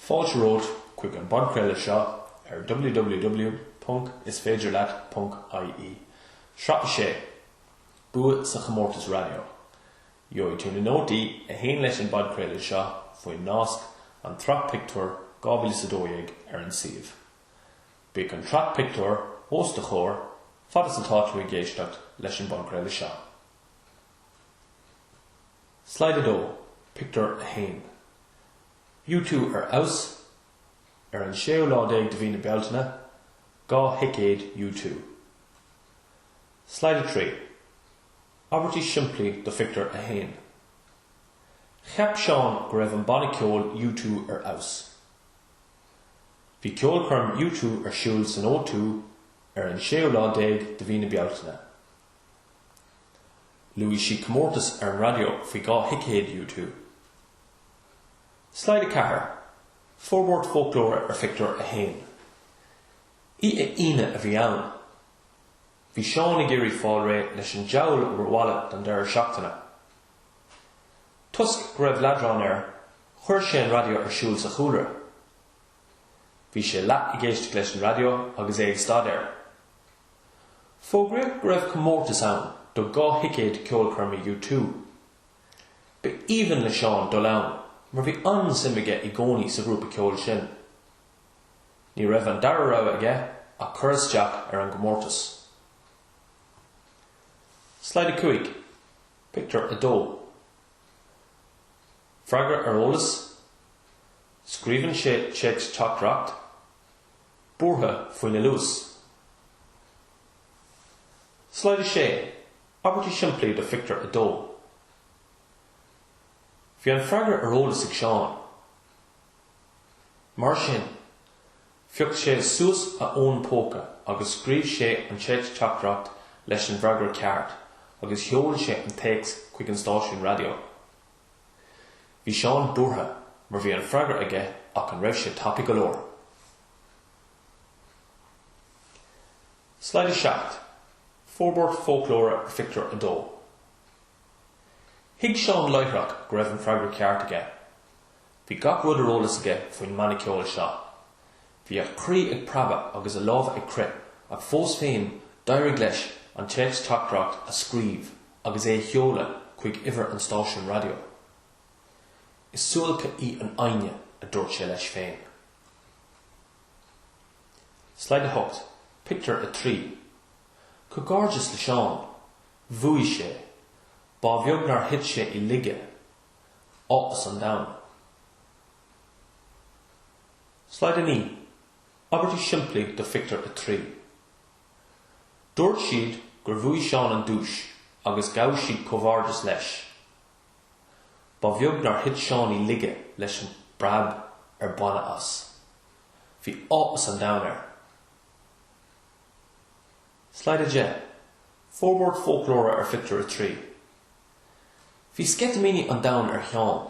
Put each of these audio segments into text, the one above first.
Fáilte romhat chuig an bpodchraoladh seo ar www.isféidirleat.ie, sraith 6, Bua sa Chomórtas Raidió. Gheobhaidh tú na nótaí a théann leis an bpodchraoladh seo faoin nasc An tSraith Pictiúr 2012 ar an suíomh. Bíodh an tsraith pictiúr os do chomhair fad is atá tú ag éisteacht leis an bpodchraoladh seo. Slide 2, Pictiúr 1. You Two Ar Fheabhas, Ar an séú lá déag de mhí na Bealtaine, dhá thicéad You Two. Slide 3, Abairtí simplí do Phictiúr 1. Cheap Seán go raibh an banna ceoil You Two ar fheabhas. Bhí ceolchoirm You Two ar siúl san O Two ar an séú lá déag de mhí na Bealtaine. Luaigh sí comórtas ar an raidió faoi dhá thicéad U two. Slide 4, Forbairt Fóclóra ar Phictiúr 1. Oíche Aoine a bhí ann. Bhí Seán ag iarraidh fáil réidh leis an diabhal obair bhaile don deireadh seachtaine. Toisc go raibh leadrán air, chuir sé an raidió ar siúl sa chúlra. Bhí sé leath ag éisteacht leis an raidió agus é ag staidéar. Fógraíodh go raibh comórtas ann do dhá thicéad ceolchoirme U2. Ba aoibhinn le Seán dul ann mar bhí an-suim aige i gcónaí sa ghrúpa ceoil sin. Ní raibh an dara rogha aige ach cur isteach ar an gcomórtas. Slide 5, Pictiúr 2 Freagra ar eolas, Scríobhann sé téacs teachtaireacht. buartha faoina luas. Slide 6, Abairtí simplí do Phictiúr 2 Bhí an freagra ar eolas ag Seán. Mar sin, phioc sé suas a fhón póca agus scríobh sé an téacs teachtaireacht leis an bhfreagra ceart agus sheol sé an téacs chuig an stáisiún raidió. Bhí Seán buartha mar bhí an freagra aige ach an raibh sé tapa go leor? Slide 7, Forbairt fóclóra ar Phictiúr 2 Thuig Seán láithreach go raibh an freagra ceart aige. Bhí gach rud ar eolas aige faoin mbanna ceoil seo. Bhí a chroí ag preabadh agus a lámha ag crith ach fós féin d'éirigh leis an téacs teachtaireacht a scríobh agus é a sheoladh chuig uimhir an stáisiúin raidió. Is suáilce í an fhoighne, a dúirt sé leis féin. Slide 8, Pictiúr 3 Comhghairdeas le Seán! Bhuaigh sé! Ba bheag nár thit sé i laige. Áthas an domhain. Slide 9, Abairtí simplí do Phictiúr 3. Dúirt siad gur bhuaigh Seán an duais agus ghabh siad comhghairdeas leis. Ba bheag nár thit Seán i laige leis an bpreab ar baineadh as. Bhí áthas an domhain air. Slide 10, Forbairt Fóclóra ar Phictiúr 3 Bhí sceitimíní an domhain ar Sheán.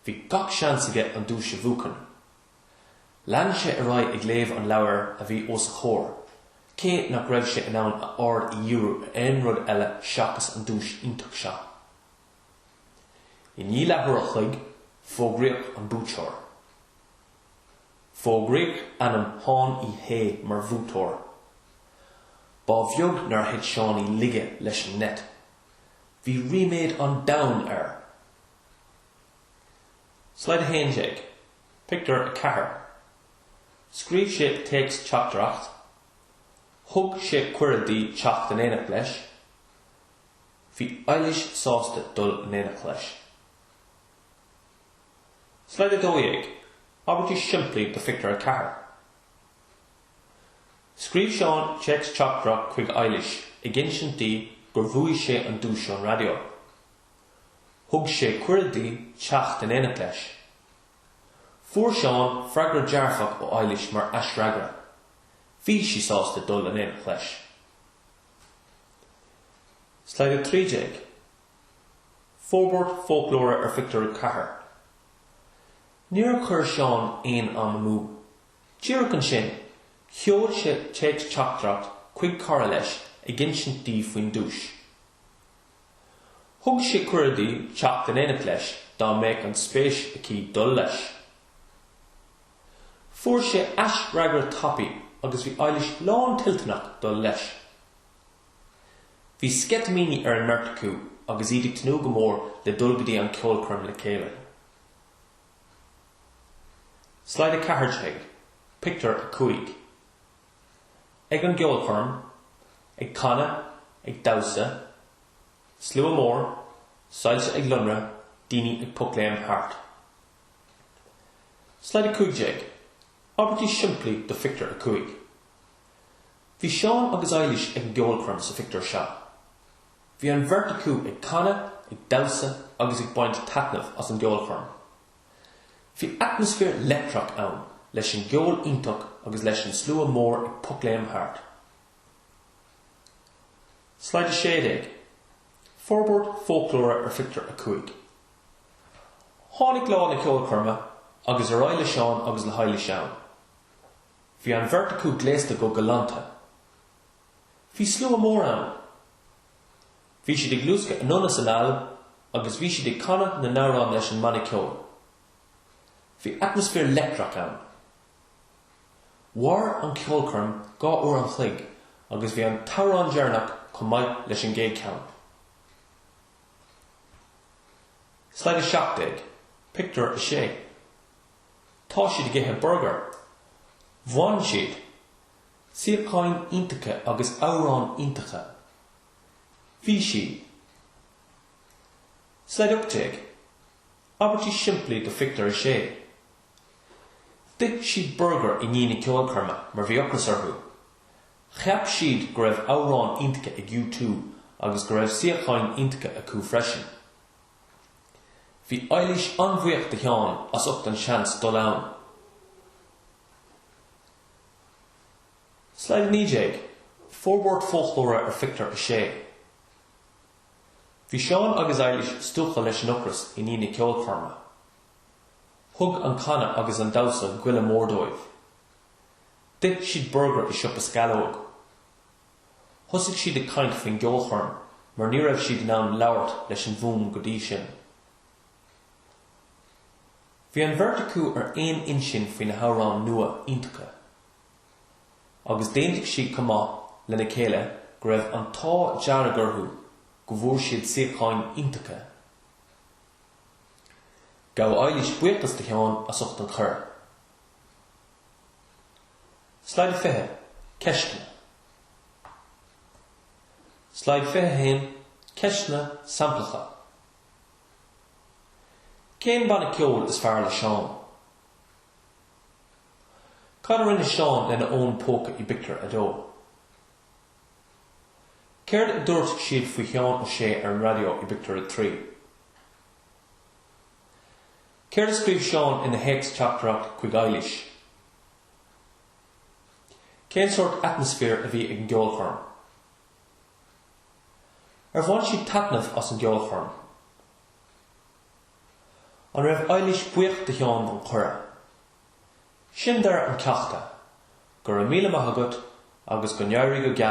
Bhí gach seans aige an duais a bhuachan. Lean sé ar aghaidh ag léamh an leabhair a bhí os a chomhair, cé nach raibh sé in ann a aird a dhíriú ar aon rud eile seachas an duais iontach seo. I ndiaidh leathuair a chloig, fógraíodh an buaiteoir. Fógraíodh ainm Sheáin Uí Shé mar bhuaiteoir. Ba bheag nár thit Seán i laige leis an ngeit. Bhí ríméad an domhain air! Slide 11, Pictiúr 4 Scríobh sé téacs teachtaireacht, thug sé cuireadh di teacht in éineacht leis, bhí Eilís sásta dul in éineacht leis. Slide 12, Abairtí simplí do Phictiúr 4 Scríobh Seán téacs teachtaireacht chuig Eilís ag insint di gur bhuaigh sé an duais ón raidió. Thug sé cuireadh di teacht in éineacht leis. Fuair Seán freagra dearfach ó Eilís mar aisfhreagra. Bhí sí sásta dul in éineacht leis. Slide 13. Forbairt fóclóra ar phictiúr 4. Níor chuir Seán aon am amú. Díreach ansin, sheol sé téacs teachtaireacht chuig cara leis ag insint di faoin duais. Thug sé cuireadh di teacht in éineacht leis dá mbeadh an spéis aici dul leis. Fuair sé aisfhreagra tapaidh agus bhí Eilis lántoilteanach dul leis. Bhí sceitimíní ar an mbeirt acu agus iad ag tnúth go mór le dul go dtí an ceolchoirm le chéile. Slide 14, Pictiúr 5. Ag an gceolchoirm, ag canadh, ag damhsa, slua mór, soilse ag lonradh, daoine ag pocléim thart. Slide 15, Abairtí simplí do Phictiúr 5 Bhí Seán agus Eilís ag an gceolchoirm sa phictiúr seo. Bhí an bheirt acu ag canadh, ag damhsa agus ag baint taitnimh as an gceolchoirm. Bhí atmaisféar leictreach ann, leis an gceol iontach agus leis an slua mór ag pocléim thart. Slide 16. Forbairt Fóclóra ar Phictiúr 5. Tháinig lá na ceolchoirme agus ar aghaidh le Seán agus le hEilís ann. Bhí an bheirt acu gléasta go galánta. Bhí slua mór ann. Bhí siad ag luascadh anonn is anall agus bhí siad ag canadh na n-amhrán leis an mbanna ceoil. Bhí atmaisféar leictreach ann. Mhair an cheolchoirm dhá uair an chloig agus bhí an t-amhrán deireanach chomh maith leis an gcéad cheann. Slide 17, Pictiúr 6 Tá siad ag ithe burgair. Bhain siad, suíocháin iontacha agus amhráin iontacha. Bhí sé. Slide 18, Abairtí simplí do Phictiúr a Sé. D'ith siad burgar i ndiaidh na ceolchoirme mar bhí ocras orthu. Cheap siad go raibh amhráin iontacha ag U two agus go raibh suíocháin iontacha acu freisin. Bhí Eilís an-bhuíoch de Sheán as ucht an seans dul ann. Slide 19, Forbairt foclóra ar Phictiúr 6. Bhí Seán agus Eilís stiúgtha leis an ocras i ndiaidh na ceolchoirme. Thug an canadh agus an damhsa goile mór dóibh. D'ith siad burgar i siopa sceallóg. Thosaigh siad ag caint faoin gceolchoirm mar ní raibh siad in ann labhairt leis an bhfuaim go dtí sin. Bhí an bheirt acu ar aon intinn faoi na hamhráin nua iontacha. agus d'aontaigh siad chomh maith lena chéile go raibh an t-ádh dearg orthu go bhfuair siad suíocháin iontacha. Ghabh Eilís buíochas de Sheán as ucht an chuiridh. Slide 20, Ceisteanna Slide 21, Ceisteanna samplacha Cén banna ceoil is fearr le Seán? Cad a rinne Seán lena fhón póca i bpictiúr a dó? Céard a dúirt siad faoi Sheán Ó Sé ar an raidió i bpictiúr a trí? Céard a scríobh Seán ina théacs teachtaireacht chuig Eilís? Cén sórt atmaisféir a bhí ag an gceolchoirm? Ar bhain siad taitneamh as an gceolchoirm? An raibh Eilís buíoch de Sheán don chuireadh? Sin deireadh an ceachta. Go raibh míle maith agat agus go n-éirí go